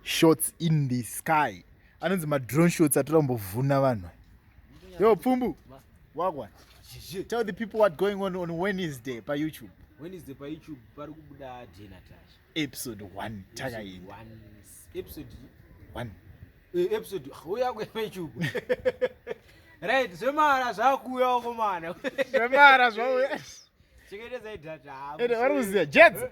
shots in the sky anonzi madrone shots atora kumbovhuna vanhu yo pfumbu wagwa tell the people what going on on wednesday payoutube wednesday payoutube pari kubuda denatasha episode 1 takaenda episode 1 eh, episode uya kwepayoutube right zvemara zvakuuyawo komana zvemara zvauya cheketedza idata vari kuziva jedza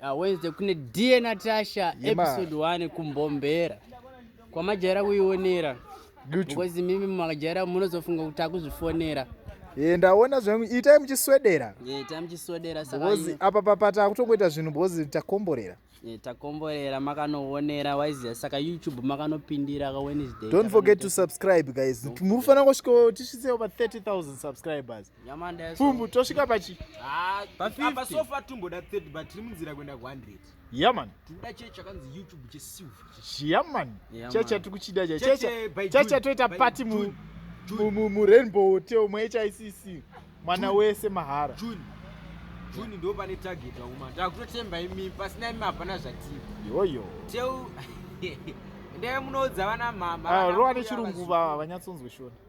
Ah, Wednesday kune dear Natasha Yema. episode 1 kumbombera kwamajaira kuionera Duchu. because mimi makajaira munozofunga kuti akuzvifonera Eh, ndaona zvenyu itai muchiswedera Eh, tamuchisodera saka because apa papa takutongoita zvinhu because takomborera Eh, takomborera makanoonera waiziva saka youtube makanopindira ka wednesday don't forget to subscribe guys muri kufanira kusvika tisvitsewo pa 30000 subscribers pfumbu tosvika pachi apa sofa tumboda 30 but tiri munzira kuenda ku 100 yaman tinoda chee chakanzi youtube chesilver chiyaman chee chatiri kuchida chee chee chee chatoita pati mu mu mu rainbow hotel mu hicc mwana wese mahara june june ndo pane target wakuma takutotemba imi pasina imi hapana zvatiri yoyo teu ndee munoudza vana mama ah, rowa nechirungu vanyatsonzwe shona